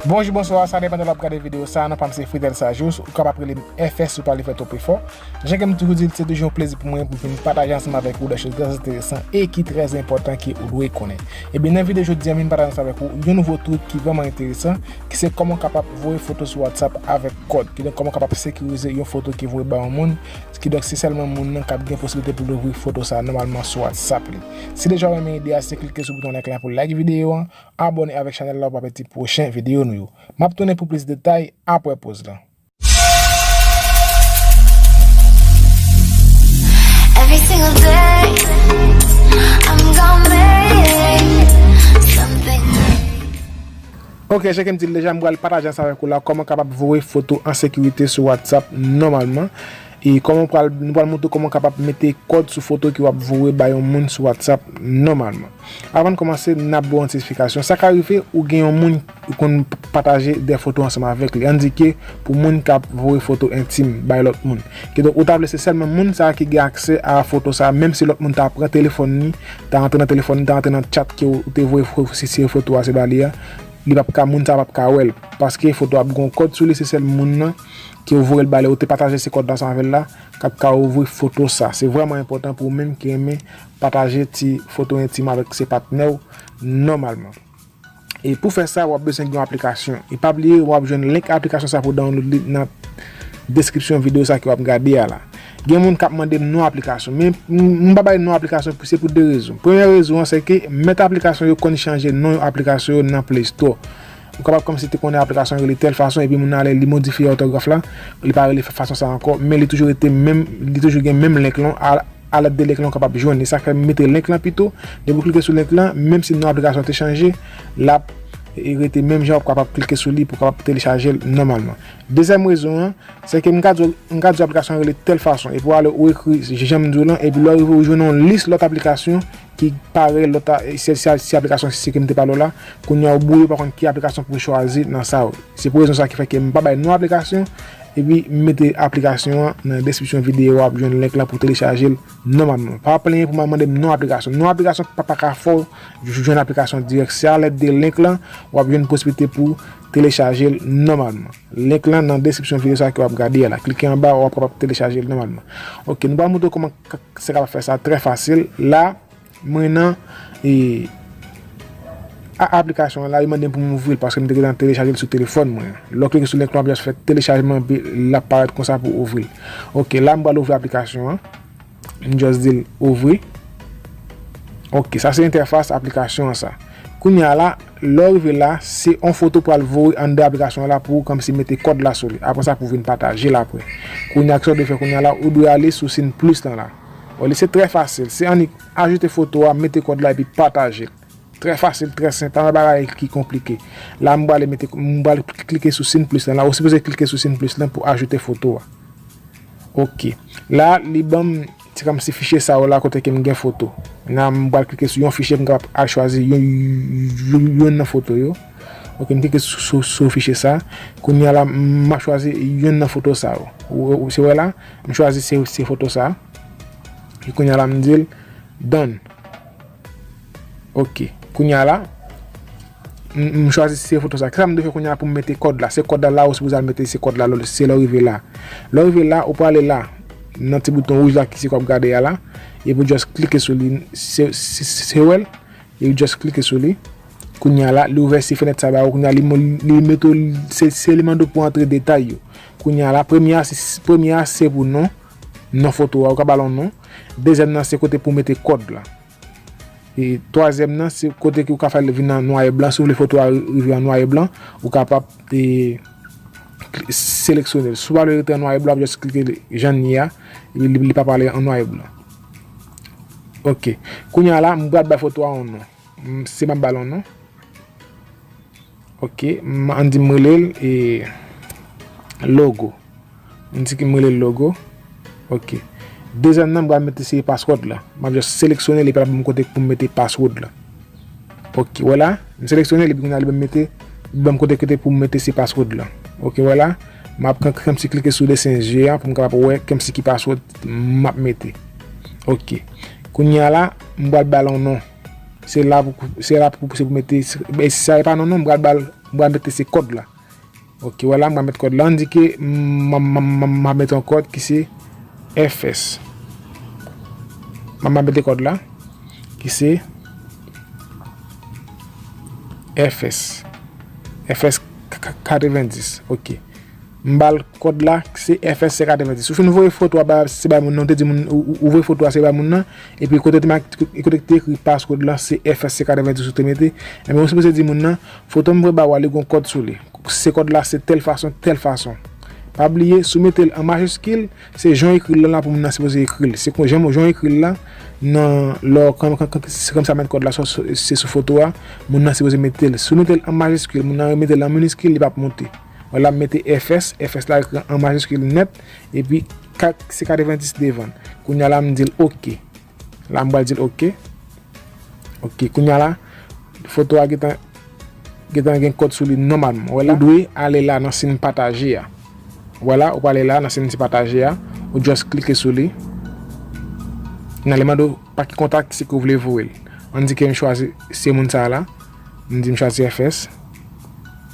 Bonjou bonswa sa depan de lè wap gade video sa non pam se Fridel Sajous ou kapab rele m FS ou pa vle fè twòp efò jan ke m toujou di l se toujou yon plezi pou mwen pou m vin pataje ansanm avèk ou de choz trè enteresan e ki trè enpòtan ke ou dwe konnen ebyen nan video jodi an m vin pataje ansanm avèk ou yon nouvo trik ki vrèman enteresan ki se kòman w kapab voye foto sou WhatsApp avèk kòd kidonk kòman w kapab sekirize yon foto ki voye ba yon moun Kidonk se sèlman moun nan kap gen posiblite poul ouvri foto sa nòmalman sou whatsapp li. Si déjà ou renmen ide a se klike sou bouton like la pou like video an, abone avèk chanèl la ou pa pèdi pwochen video nou yo. Map tounen pou plis detay aprè poz lan. Ok cheke m dil deja m pral pataje ansanm avèk ou la kòman kapab voye foto an sekirite sou whatsapp nòmalman e kòman ou pral nou pral montre w kòman kapab mete kòd sou foto ke wap voye ba yon moun sou whatsapp nòmalman avan n kòmanse nap ba w yon ti esplikasyon sa ka rive ou gen yon moun ou konn pataje de foto ansanm avèk li an di ke pou moun kap voye foto entim bay lòt moun kidonk ou ta vle se sèlman moun sa ki gen aksè a foto sa menm si lòt moun ta pran telefòn li ta antre nan telefòn li ta antre nan chat ke ou te voye sitire foto a se ba li a li pap ka moun sa pap ka wèl paske foto ap gon kòd sou li se sèl moun nan ke ou voyel bali ou te pataje se kòd la ansanm avèl la kap ka ouvri foto sa se vrèman enpòtan pou ou menm ki renmen pataje ti foto entim avèk se patnèw nòmalman. E pou fè sa wap bezwen gen yon aplikasyon e pa bliye wap jwenn link aplikasyon sa pou download li nan deskripsyon video sa ke wap gade a la. Gen moun kap mandem non aplikasyon men m pa bay non aplikasyon se pou 2 rezon. Premyè rezon an se ke mèt aplikasyon yo konn chanje non yon aplikasyon yo nan play store. Ou kapab kòmsi te konnen aplikasyon an rele tèl fason epi moun nan ale li modifye òtograf la li pa rele fason sa ankò men li toujou rete menm li toujou gen menm link lan a. Alèt de link lan ou kapab jwenn li. Sa fè m mete link lan pito. Depi ou klike sou link lan, menm si non aplikasyon te chanje, l ap rete menm jan. Ou kapab klike sou li pou w kapab telechaje l nòmalman. Dezyèm rezon an, se ke m ka di w, m ka di w aplikasyon an rele tèl fason. Epi w ale ou ekri jan m di w lan, epi lè w rive ou jwenn yon lis lòt aplikasyon ki pare lòt a se se se aplikasyon si kem te pale w la kounya ou bouye ou pa konn ki aplikasyon pou chwazi nan sa yo se pou rezon sa ki fè ke m pa bay non aplikasyon epi m mete aplikasyon an nan deskripsyon videyo a wap jwenn link la pou telechaje l nòmalman pa plenyen pou mande m non aplikasyon non aplikasyon pa pa ka fè w jwenn aplikasyon dirèk se a lèd de link lan wap jwenn posiblite pou telechaje l nòmalman. Link lan nan deskripsyon video sa ke wap gade a la. Klike anba wap kapab telechajel nòmalman. Ok nou pral moutre w kòman se kapab fè sa trè fasil. La mwen nan e a aplikasyon an la yo mande m pou m ouvri l paske m te gentan telechajel sou telefòn mwen. Lè w klike sou link lan wap just fè telechajman epi lap parèt konsa pou ouvri l. Ok la m pral ouvri aplikasyon an. M just di l ouvri. Ok sa se entèfas aplikasyon an sa. Kounye a la lè w rive la se yon foto pou al voye anndan aplikasyon an la pou kòmsi mete kòd la sou li. Apre sa pou vin pataje l apre. Kounye a kisa w dwe fè kounye a la ou dwe ale sou sin plis lan la. Wè li se trè fasil se annik ajoute foto a mete kòd la epi pataje l. Trè fasil, trè senp, pa gen bagay ki konplike. La m prale mete, m pral klike sou sin plis lan la. Ou sipoze klike sou sin plis lan pou ajoute foto a. Ok. La, li ban m se kòmsi fichye sa yo la kote ke m gen foto. La, m pral klike sou yon fichye, m kapab al chwazi youn nan foto yo. Ok, m klike sou fichye sa. Kounye a la, m ap chwazi youn nan foto sa yo. Ou se wè la, m chwazi se foto sa. Kounye a la, m di l, Done. Ok kounya la M chwazi se foto sa Kisa m dwe fè kounya pou m mete kòd la Se kòd la la ou sipoze al mete se kòd la Se lè w rive la Lè w rive la ou prale la Nan ti bouton wouj la ki se sa w ap gade a la Epi w just klike sou li Se w wè l Epi w just klike sou li Kounya la li ouvè si fenèt sa ba ou Kounya li mete w Se li mande w pou w antre detay yo Kounya la premye a se pou non Non foto a Ou ka ba l yon non Dezyèm nan se kote pou mete kòd la. E twazyèm nan se kote ki ou ka fè li vin an nwa e blan. Si ou vle foto a rive an nwa e blan, ou kapab e seleksyone l. Si ou pa vle li rete an nwa e blan, jis klike li jan li ye a. Li pa pral an nwa e blan. Ok. Kounye a la, m pral bay foto a yon non. M se pa balon non. Ok m an di m rele l e logo. M di ki m rele l logo. Ok. Dezèm nan m pral mete se password la. M ap just seleksyone li pa la banm kote pou m mete password la. Ok wè la. M seleksyone li epi kounye a li banm mete li banm kote kote pou m mete se password la. Ok wè la. M ap pran kèm si klike sou desen zye a pou m kapab wè kèm si ki password m ap mete. Ok. Kounye a la, m pral ba l yon non. Se la pou pou, se la pou pou se pou mete, e si sa e pa non non, m pral ba l, m pral mete se kòd la. Ok, wè la m pral mete kòd la. An di ke m ap mete yon kòd ki se FS. M ap mete kòd la ki se FS. FS 90. Ok. M bal kod la se FSC 90. Ou fin voye foto a bay se bay moun nan ou te di moun ou voye foto a se bay moun nan epi kote te make kote ki te ekri passcode lan se FSC 90 ou te mete enben ou sipoze di moun nan fotom voye ba ou a li gon kòd sou li se kòd la se tèl fason tèl fason pa bliye sou metel an majiskil se jan ekril lan la pou moun nan sipoze ekril se kon jan ou ekril la nan lò se kòmsi a met kòd la se sou foto a moun nan sipoze metel sou metel an majiskil moun nan remetel an miniskil li pap monte. Wè la m mete fs, fs la ekri an majiskil nèt, epi kat se 90 devan. Kounya la m di l ok. La m pral di l ok. Ok, kounya la foto a gen tan gen tan gen kòd sou li nòmalman. Wè la, ou dwe ale la nan sin pataje a. Wè la, ou prale la nan sin ti pataje a, ou just klike sou li. Nan li mande w pa ki kontak se ke w vle voye l. An di ke m chwazi se moun sa la. M di m chwazi FS.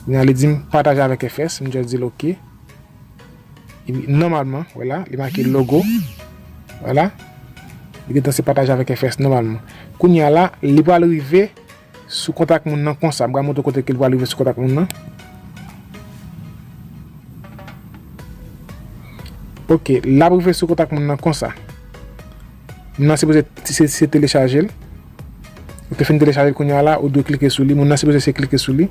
Kounye a li di m pataje avèk FS. M just di l ok. Epi nòmalman, wè la, li make logo. Wè la. Li gen tan se pataje avèk FS nòmalman. Kounye a la, li pral rive sou kontak moun nan konsa. M pral montre w kote ke li pral rive sou kontak moun nan. Ok, l ap rive sou kontak moun nan konsa. Moun nan sipoze se telechaje l. Ou te fin telechajel kounya la ou dwe klike sou li moun nan sipoze se klike sou li.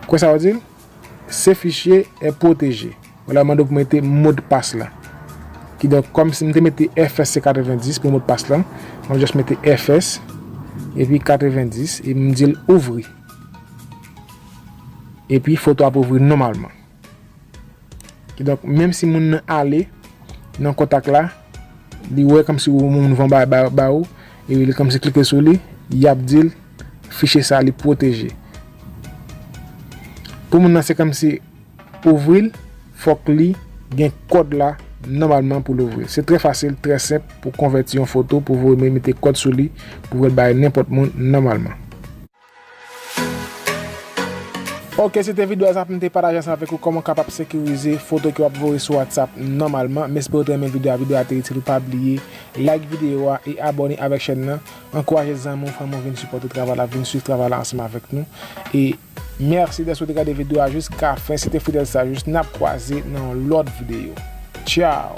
Kwè sa yo dil? Se fichye e pwoteje. Wala yo mande pou mete modpas la. Ki donk kom si m te mete fs se 90 pou modpas la, map just mete fs epi 90 e m dil ouvri. Epi foto ap ouvri nomalman. Kidonk, menm si moun nan ale nan kontak la, li wè kòm si moun van bay ba ou, e li kòm si klike sou li, y ap di l fichye sa li pwoteje. Pou moun nan se kòm si ouvri l, fòk li gen kòd la nòmalman pou l ouvri l. Se trè fasil, trè senp pou konvèti yon foto pou voye men mete kòd sou li pou vè l bay nenpòt moun nòmalman. Ok se te video sa poum te pataje ansanm avèk ou kòman ou kapab sekirize foto ke wap voye sou WhatsApp nòmalman m espere ou te renmen video a video a te itil ou pa bliye like video a e abòne avèk chèn nan ankouraje zanmi ou fanmi ou vin sipòte travay la vin swiv travay la ansanm avèk nou e mèsi dèske ou te gade video a jiska fen se te Fidel Sageous nap kwaze nan yon lòt video tchao.